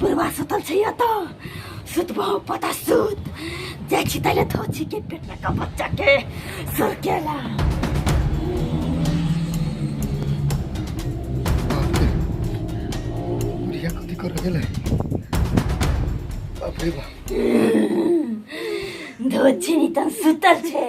बुढ़वा सुतल छै एतऽ सुतबो पता सुत जाइ छी तैले धो छी के पेट लगा बच्चा के सरकेला बुढ़िया कथी कर गेलै बाप रे बाप धो छी तन सुतल छै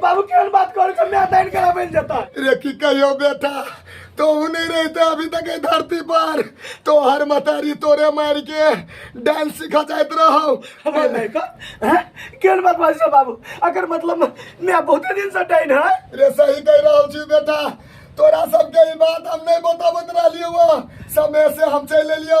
बाबू केहन बात करै छै मैं दान कराबै लए जेता रे की कहियो बेटा तो नहीं रहते अभी तक एहि धरती पर तो हर मतारी तोरे मार के डांस सिखा जाइत रहो हमरा नहीं का हैं केहन बात बाजै छै बाबू अगर मतलब मैं बहुते दिन से डाइन है रे सही कह रहा छी बेटा तोरा सबके ई बात हम नहीं बताबत रहलियो समय से हम चल एलियो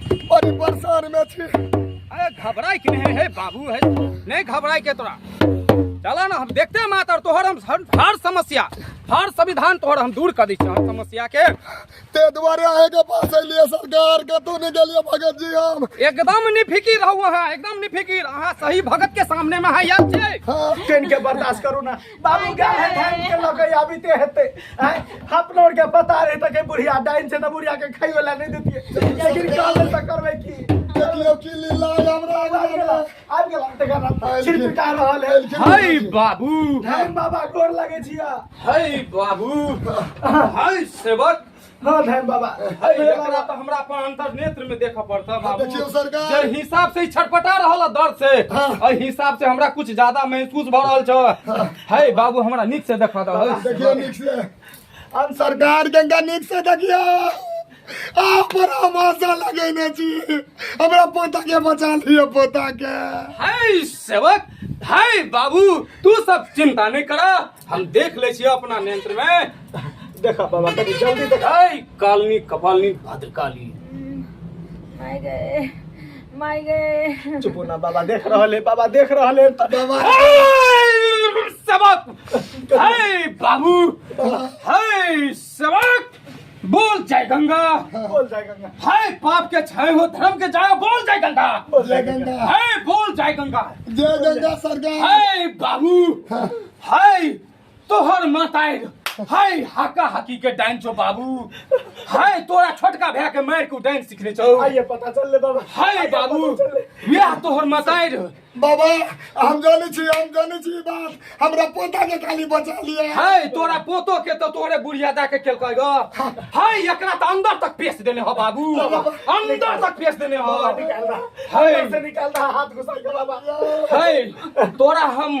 बड़ी परेशान में छी अरे घबराई के नहीं है बाबू है नहीं घबराई के तोरा चला ना हम देखते हैं मातर तोहर हम हर, हर समस्या हर संविधान तोहर हम दूर कर दी छी, हर समस्या के ते दुआरे आए के पास लिए सरकार के तू नहीं गेलिए भगत जी हम एकदम नहीं फिकिर रहो अहाँ एकदम नहीं फिकिर अहाँ सही भगत के सामने में है याद छै हाँ ट्रेन के बर्दाश्त करू ना बाबू गाय है धान के लगे अभी ते हेते हैं अपना और के पता रहे तक बुढ़िया डाइन से ना बुढ़िया के खाई वाला नहीं देती लेकिन काम में तक करवे की देखियो की लीला हमरा आ आगे गेला आगे गेला ते गाना छिर पिटा रहल है हाय बाबू धान बाबा गोर लगे छिया हाय बाबू हाय सेवक हाँ धन बाबा अरे अरे एकरा तो हमरा अपन अंतर नेत्र में देखा पड़ता हाँ, देखियो बाबू सरकार। जे हिसाब से ई छटपटा रहल है दर्द से हाँ। अइ हिसाब से हमरा कुछ ज्यादा महसूस भ रहल छ है बाबू हमरा नीक से देखा दो देखियो नीक से हम सरकार गंगा नीक से देखियो आप पर हम आशा लगेने छी हमरा पोता के बचा लियो पोता के है सेवक है बाबू तू सब चिंता नहीं करा हम देख ले छियै अपना नेत्र में देखा बाबा कभी जल्दी देखा ऐ कालनी कपालनी भद्रकाली माय गए माय गए चुप हो ना बाबा देख रहल है बाबा देख रहल है बाबा ऐ सबक ऐ बाबू ऐ सेवक बोल जय गंगा बोल जय गंगा हाय पाप के छाए हो धर्म के जाए बोल जय गंगा बोल जय गंगा हाय बोल जय गंगा जय गंगा सरकार हाय बाबू हाय तोहर माताए हाय हाका हाकी के डाइन छो बाबू हाय तोरा छोटका भैया के मार के डाइन सीखने छो आइए पता चल ले बाबा हाय आइए बाबू पता चल ले। यह तोहर माताए बाबा हम जाने छी हम जाने छी बात हमरा पोता के खाली बचा लिया है तोरा पोतो के तो तोरे बुढ़िया दा के केल कहेगा है एकरा त अंदर तक पेश देने हो बाबू अंदर तक पेश देने हो है निकाल दा हाथ घुसा के बाबा है तोरा हम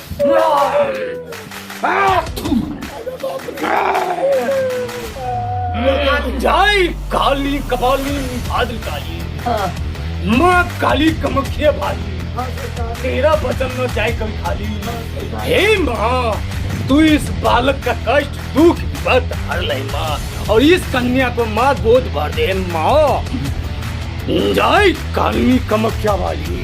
जय काली कपाली भाद्र काली माँ काली कमखिया भाली तेरा बचन न जाए कभी खाली हे माँ तू इस बालक का कष्ट दुख बत हर ले माँ और इस कन्या को माँ गोद भर दे माँ जय काली कमख्या वाली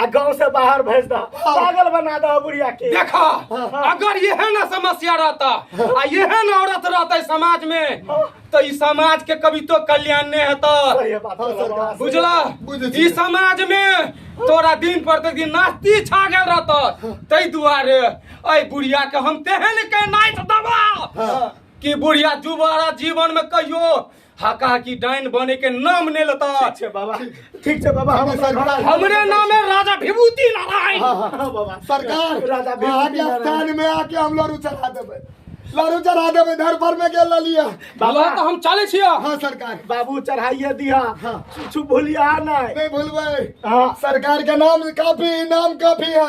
आ गांव से बाहर भेज दा हाँ। पागल बना दा बुढ़िया के देखा हाँ, हाँ। अगर यह ना समस्या रहता आ यह ना औरत रहता समाज में हाँ। तो ई समाज के कभी तो कल्याण नहीं होता सही है बात हाँ, है, सरकार। बात। बुझला बुझै छी। ई समाज में तोरा दिन पर ते दिन नास्ती छा गेल रहता तै दुआरे ऐ बुढ़िया के हम तेहन के नाइट दबा हाँ। कि बुढ़िया जुबारा जीवन में कहियो हाका की डाइन बने के नाम ने लेता ठीक छै बाबा ठीक छै बाबा हम सरकार हमरे नाम है राजा विभूति नारायण हां हां हाँ, बाबा सरकार राजा विभूति नारायण में आके हम लड़ू चला देबे लड़ू चढ़ा देबे घर पर में गेल ललिया बाबा तो हम चले छिया हां सरकार बाबू चढ़ाइए दिया हां कुछ भूलिया नहीं नहीं भूलबे हां सरकार के नाम काफी नाम काफी है